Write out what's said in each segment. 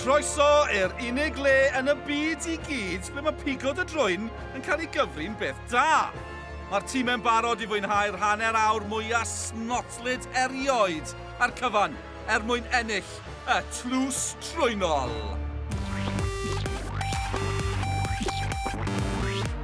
Croeso i'r unig le yn y byd i gyd ble mae pigod y drwyn yn cael ei gyfri'n beth da. Mae'r tîmau'n barod i fwynhau'r hanner awr mwyaf snotlyd erioed a'r cyfan er mwyn ennill y tlws trwynol.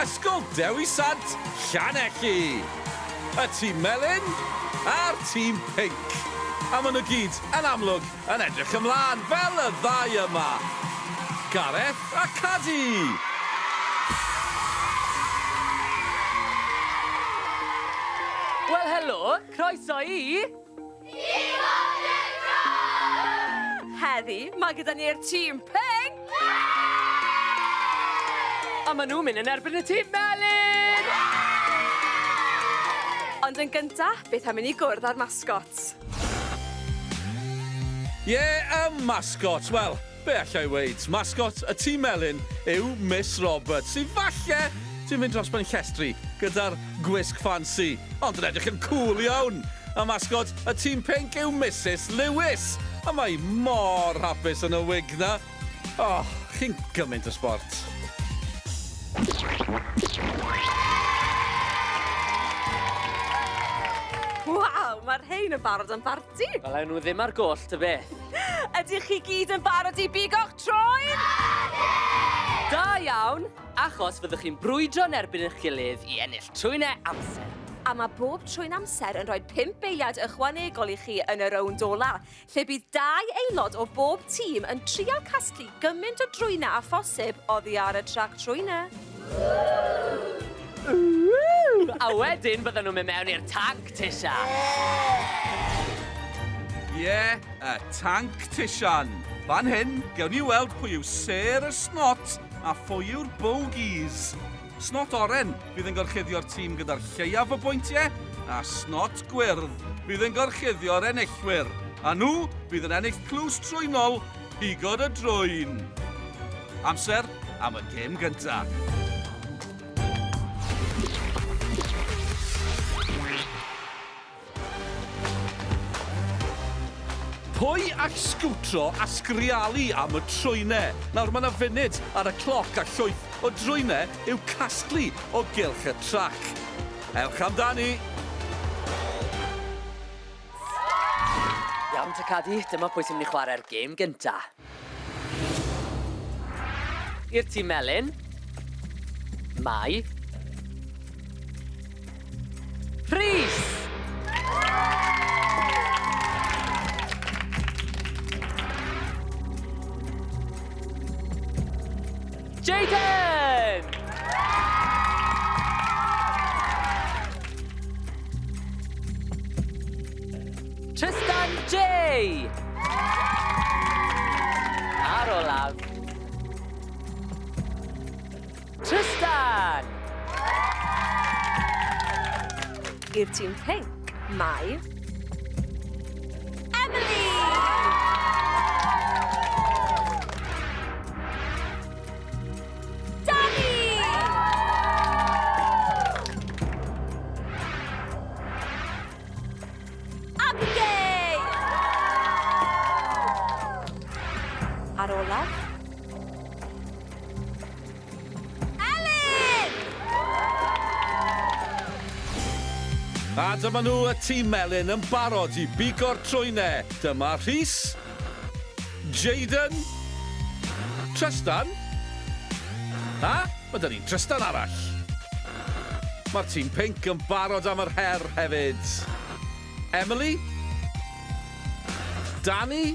Ysgol Dewi Sant, Llanelli! Y tîm melyn a'r tîm pinc. A maen nhw gyd, yn amlwg, yn edrych ymlaen, fel y ddau yma. Gareth a Cadi! Wel helo, croeso i... Heddi, mae gyda ni'r tîm pink! A maen nhw'n mynd yn erbyn y tîm melyn! Ond yn gyntaf, beth am i ni gwrdd â'r mascots? Ie, y mascots! Wel, Be allai weud, mascot y tîm melyn yw Miss Roberts, sydd falle sy'n mynd dros ben llestri gyda'r gwisg ffansi, ond yn edrych yn cŵl iawn! A mascot y tîm pinc yw Misus Lewis, a mae hi mor hapus yn y wig 'na! O, chi'n gymaint o sbort! Waw, mae'r rhein yn barod am barti! Ydy! Fel awn nhw ddim ar goll ta beth. Ydych chi gyd yn barod i bigo'ch troed? Ydy! Da iawn, achos fyddwch chi'n brwydro yn erbyn eich gilydd i ennill trwynau amser. A mae bob trwyn amser yn rhoi pump eiliad ychwanegol i chi yn y rownd ola, lle bydd dau aelod o bob tîm yn trial casglu gymaint o drwynau â phosib oddi ar y trac trwynau. A wedyn byddan nhw'n mynd mewn i'r tanc tisian! Ie, y tanc tisian. Fan hyn, gewn ni weld pwy yw sêr y snot a phwy yw'r bogies. Snot oren fydd yn gorchuddio'r tîm gyda'r lleiaf o bwyntiau, a snot gwyrdd fydd yn gorchuddio'r enillwyr. A nhw fydd yn ennill clws trwynol Pigod a drwyn! Amser am y gêm gyntaf. Pwy all sgwtro a sgrialu am y trwynau? Nawr mae 'na funud ar y cloc a llwyth o drwynau i'w casglu o gylch y trac. Ewch amdani! Iawn te Cadi, dyma pwy sy'n mynd i chwarae'r gêm gynta. I'r tîm melyn, mae... Rhys! Jayden! Trystan Jay! A'r olaf. Trystan! I'r tîm pinc, mae... Emily! Danny! Abigail! Ar olaf, Elin! A dyma nhw y tîm Elin yn barod i bigo'r trwynau. Dyma Rhys, Jayden, Trystan, a mae dyn ni'n Trystan arall. Mae'r tîm pinc yn barod am yr her hefyd. Emily, Dani,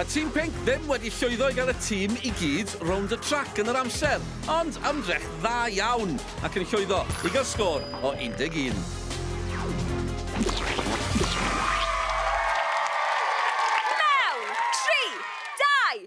Y tîm pinc ddim wedi llwyddo i gael y tîm i gyd rownd y trac yn yr amser, ond ymdrech dda iawn ac yn llwyddo i gael sgôr o 11. Mewn! Tri! Dau!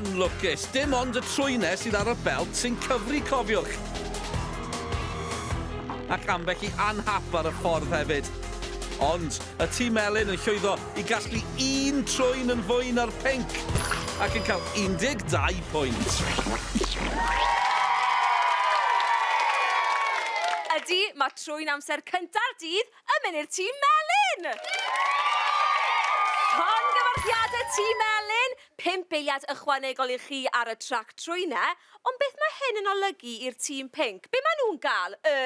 anlwcus. Dim ond y trwynau sydd ar y belt sy'n cyfri cofiwch. Ac ambell i anhap ar y ffordd hefyd. Ond Y tîm melyn yn llwyddo i gasglu un trwyn yn fwy na'r pinc ac yn cael 12 pwynt. Ydy, mae trwyn amser cynta'r dydd yn mynd i'r tîm melyn! Llongyfarchiadau tîm melyn, pump eiliad ychwanegol i chi ar y trac trwynau, ond beth mae hyn yn olygu i'r tîm pinc? Be maen nhw'n gael? Y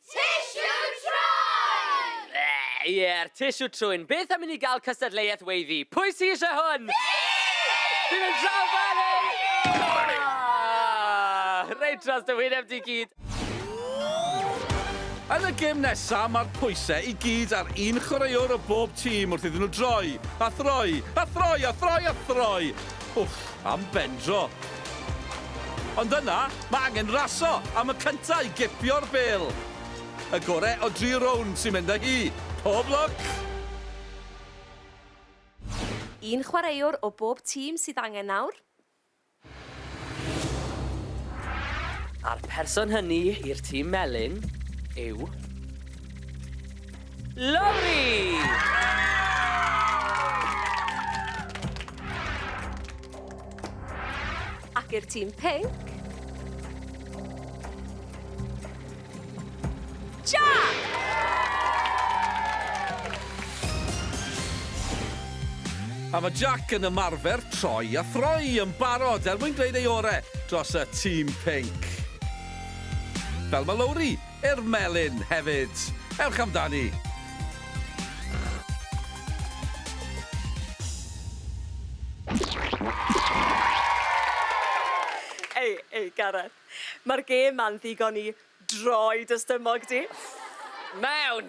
Tissue Trwyn! Yy, ie'r Tissue Trwyn. Beth am i ni gael cystadleuaeth weiddi? Pwy sy eisiau hwn? Fi! Fi'n mynd draw fan hyn! Oh! Reit dros dy wyneb di gyd. Yn y gêm nesaf, mae'r pwysau i gyd ar un chwaraewr o bob tîm wrth iddyn nhw droi, a throi, a throi, a throi, a throi! Wff, am bendro. Ond yna, mae angen raso am y cynta i gipio'r bêl. Y gore o dri rownd sy'n mynd â hi. Pob lwc! Un chwaraewr o bob tîm sydd angen nawr. A'r person hynny i'r tîm melyn yw Lowri! Ac i'r tîm pinc. Jack! A mae Jack yn ymarfer troi a throi yn barod er mwyn gwneud ei orau dros y tîm pink. Fel mae Lowri I'r melin hefyd! Ewch amdani! Ei, ei, Gareth. Mae'r gêm ma'n ddigon i droi dy stumog di. Mewn!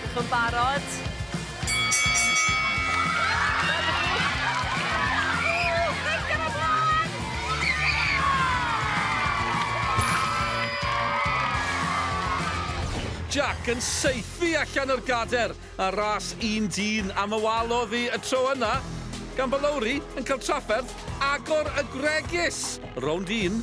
Dych chi'n barod? Jac yn saethu allan o'r gader ar ras un dyn am y wal oddi y tro yna, gan bod Lowri yn cael trafferth agor y gwregys! Rownd un,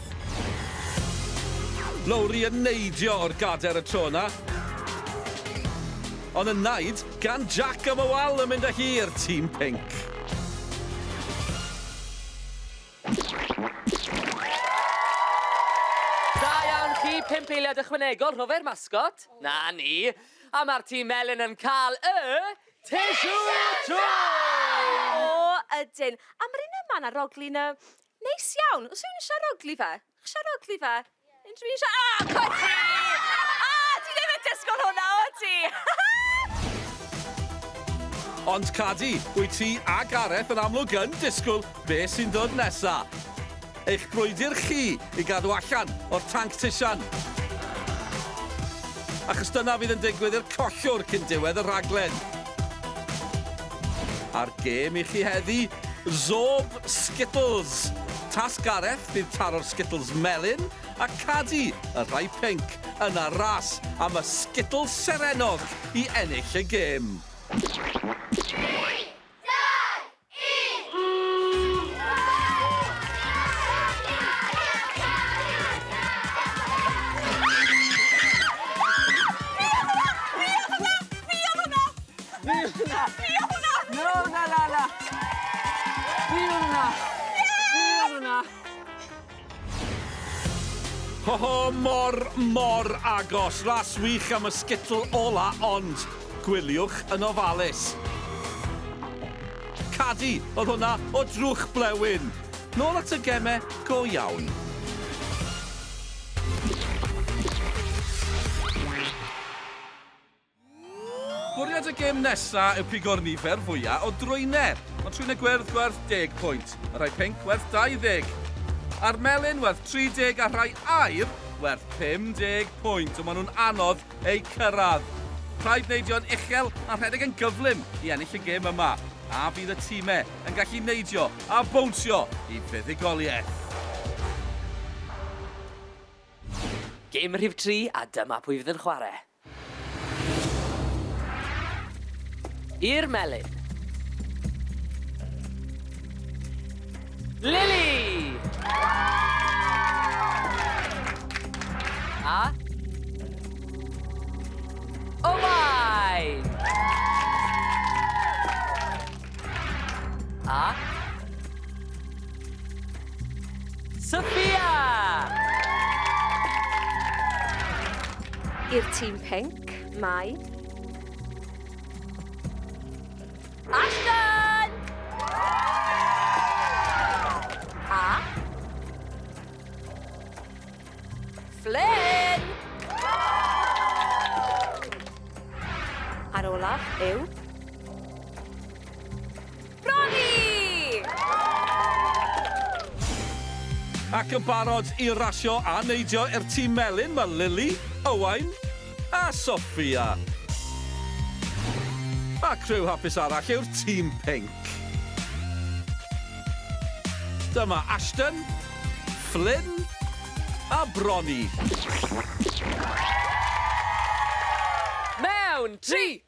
Lowri yn neidio o'r gader y tro yna. Ond yn naid gan Jac am y wal yn mynd â hi i'r tîm pinc. Da iawn chi, pump eiliad ychwanegol, rhofer masgot. Na ni. A mae'r tîm melyn yn cael y... Tissue Toys! O, ydyn. Am yr un yma na roglyn y... Neis iawn! Oes rhywun yn siarad ogli fe? Chi'n siarad ogli fe? Unrhyw un siarad... Ah! Cwt ti! Ah! Ti ddim yn disgwyl hwnna, o ti? Ond Cadi, wyt ti a Gareth yn amlwg yn disgwyl be sy'n ddod nesa. Eich brwydr chi i gadw allan o'r tanc tisian. Achos dyna fydd yn digwydd i'r collwr cyn diwedd y rhaglen. A'r gêm i chi heddi, Zob Skittles! Tasg Gareth fydd taro'r Skittles melyn a Cadi, y rhai pinc, yna ras am y Skittles serennog i ennill y gêm. Fi yw hwnna! Fi yw hwnna! No, na, na, na! Fi yw hwnna! Fi yw hwnna! Ho ho, mor, mor agos. Ras wych am y sgitl ola, ond gwyliwch yn ofalus. Cadi, oedd hwnna o drwch blewyn. Nôl at y gemau go iawn. Bwriad y gêm nesa yw pigo'r nifer fwya o drwynau, ond trwynau gwyrdd werth 10 pwynt, y rhai pinc werth 20, a'r melyn werth 30 a rhai aur werth 50 pwynt, ond maen nhw'n anodd eu cyrraedd. Rhaid neidio'n uchel a rhedeg yn gyflym i ennill y gêm yma, a fydd y timau yn gallu neidio a bownsio i fuddugoliaeth? Gêm rhif tri a dyma pwy fydd yn chwarae. I'r melin. Lily! A? Owain! A? Sophia! I'r tîm pink, mae... Ashton! A... Flynn! A'r olaf yw... Bronnie! Ac yn barod i rasio a neidio i'r tîm melyn mae Lily, Owain a Sophia. A criw hapus arall yw'r tîm pinc. Dyma Ashton, Flynn a Bronnie. Mewn 3,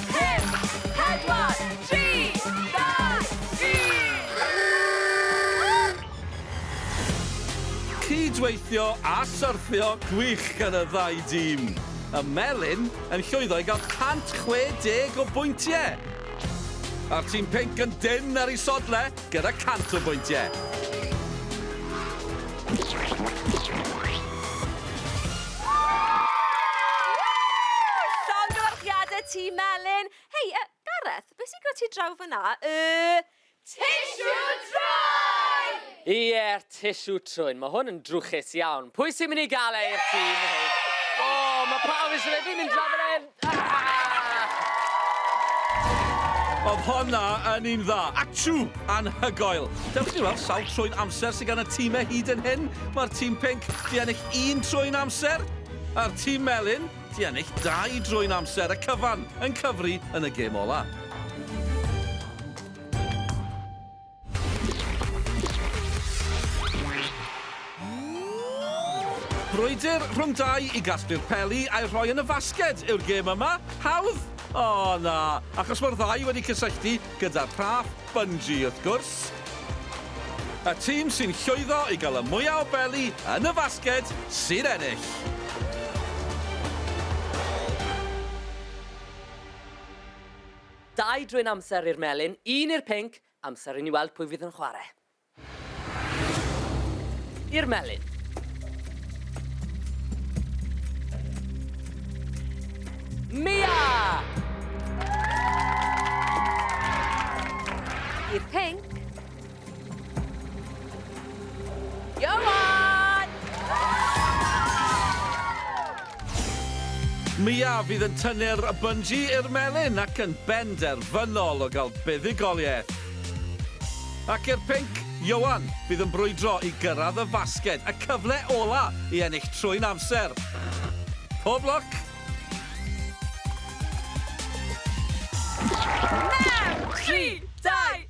Cyd-weithio a syrthio gwych gan y ddau dîm. Y Melin yn llwyddo i gael 160 o bwyntiau. A'r tîm pinc yn dynn ar eu sodlau. gyda 100 o bwyntiau. Llongyfarchiadau Tîm Melin! Hei, yy, Gareth, be sy'n gyda ti draw fan'na? Y... Tissue Trwyn! Ie'r tissue trwyn, mae hwn yn drwchus iawn. Pwy sy'n mynd i gael e i'r tîm hyn? O, mae pawb eisiau fe, fi'n mynd draw fan hyn! Oedd honna yn un dda. Achw! Anhygoel. Dewch i ni weld sawl trwy'n amser sydd gan y tîmau hyd yn hyn. Mae'r tîm pink di ennill un trwy'n amser, a'r tîm melyn di ennill dau drwy'n amser. Y cyfan yn cyfri yn y gêm ola. Brwydr rhwng dau i gasglu'r peli a'i rhoi yn y fasged yw'r gêm yma. Hawdd? O, na, achos mae'r ddau wedi cysylltu gyda'r rhaff bungee, wrth gwrs. Y tîm sy'n llwyddo i gael y mwyaf o beli yn y fasged sy'n ennill. Dau drwyn amser i'r melyn, un i'r pinc, amser i ni weld pwy fydd yn chwarae. I'r melyn. Mia! I'r pinc. Ioan! Mia fydd yn tynnu'r bynji i'r melyn ac yn benderfynol o gael buddugoliaeth. Ac i'r pinc, Ioan fydd yn brwydro i gyrraedd y fasged, y cyfle ola i ennill trwy'n amser. Pob lwc! Mewn! Tri! Dau!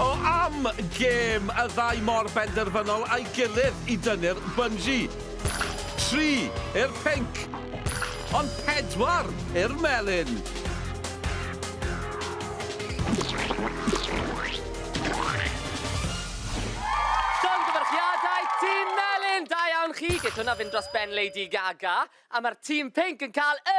O am gêm y ddau mor benderfynol a'i gilydd i dynnu'r bynji. Tri i'r pinc, ond pedwar i'r melyn. Llongyfarchiadau Tîm Melyn! Da iawn chi! Geith hwnna fynd dros ben Lady Gaga. A mae'r Tîm Pinc yn cael y...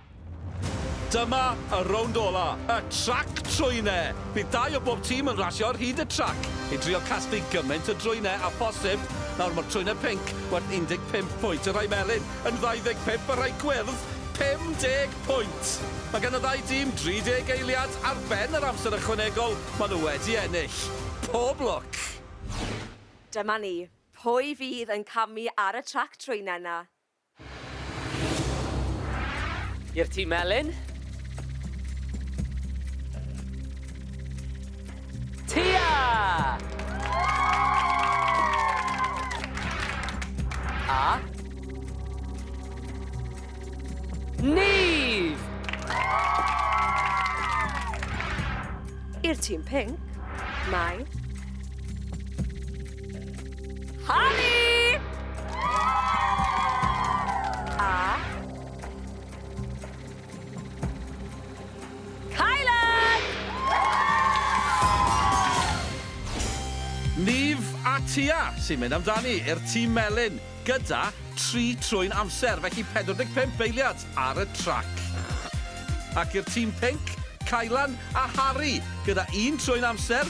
Dyma y rownd ola, y trac trwyne! Bydd dau o bob tîm yn rasio ar hyd y trac i drio casglu gymaint o drwyne â phosib. Nawr mae'r trwyne pinc werth 15 pwynt, y rhai melyn yn 25 a rhai gwyrdd 50 pwynt. Mae gan y ddau dîm 30 eiliad ar ben yr amser ychwanegol maen nhw wedi ennill. Pob lwc! Dyma ni, pwy fydd yn camu ar y trac trwyne 'na? I'r tîm melyn. Tia! A. Neve! I'r tîm pink, mae Harry! A... Kylan! Niv a Tia sy'n mynd amdani i'r tîm melyn gyda tri trwy'n amser, felly 45 eiliad ar y trac. Ac i'r tîm pinc, Kylan a Harry gyda un trwy'n amser,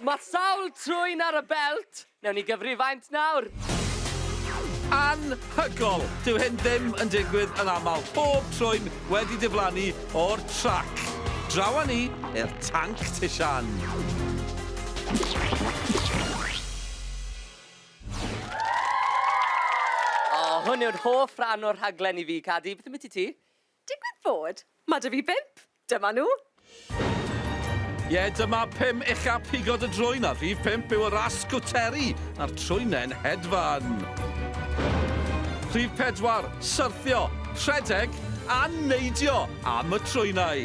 Mae sawl trwyn ar y belt, newn ni gyfri faint nawr. Anhygoel! Dyw hyn ddim yn digwydd yn aml. Pob trwyn wedi diflannu o'r trac. Draw â ni i'r tanc tishan. O, hwn yw'r hoff ran o'r rhaglen i fi, Cadi. Beth ambiti ti? Digwydd bod, mae 'da fi bump. Dyma nhw. Ie, yeah, dyma pum uchaf pigod y drwyn a rhif pump yw y ras sgwteri a'r trwynen hedfan. Rhif pedwar, syrthio, rhedeg a neidio am y trwynau.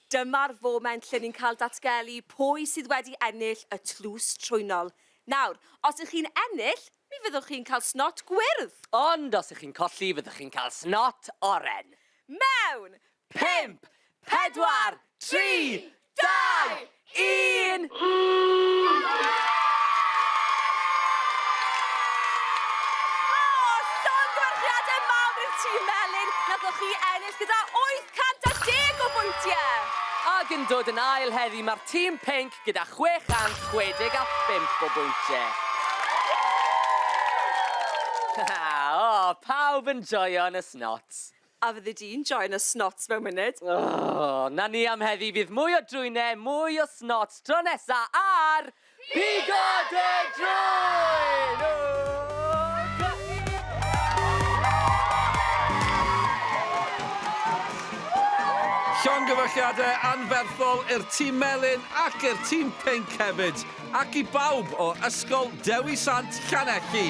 Dyma'r foment lle ni'n cael datgelu pwy sydd wedi ennill y tlws trwynol. Nawr, os y'ch chi'n ennill, mi fyddwch chi'n cael snot gwyrdd! Ond os y'ch chi'n colli, fyddwch chi'n cael snot oren! Mewn! Pump! Pedwar! Tri! Dau! Un! O! Llongyfarchiadau mawr i'r tîm melyn! Nathoch chi ennill gyda wyth 110 o bwyntiau! Ac yn dod yn ail heddi mae'r tîm pinc gyda 665 o bwyntiau. O, pawb yn joio'n y snots! A fyddi di'n joio'n y snots mewn munud! O, 'na ni am heddi, fydd mwy o drwynau, mwy o snots tro nesa ar... Pigod y Drwyn! Llongyfarchiadau anferthol i'r Tîm Melyn ac i'r Tîm Pinc hefyd, ac i bawb o Ysgol Dewi Sant Llanelli.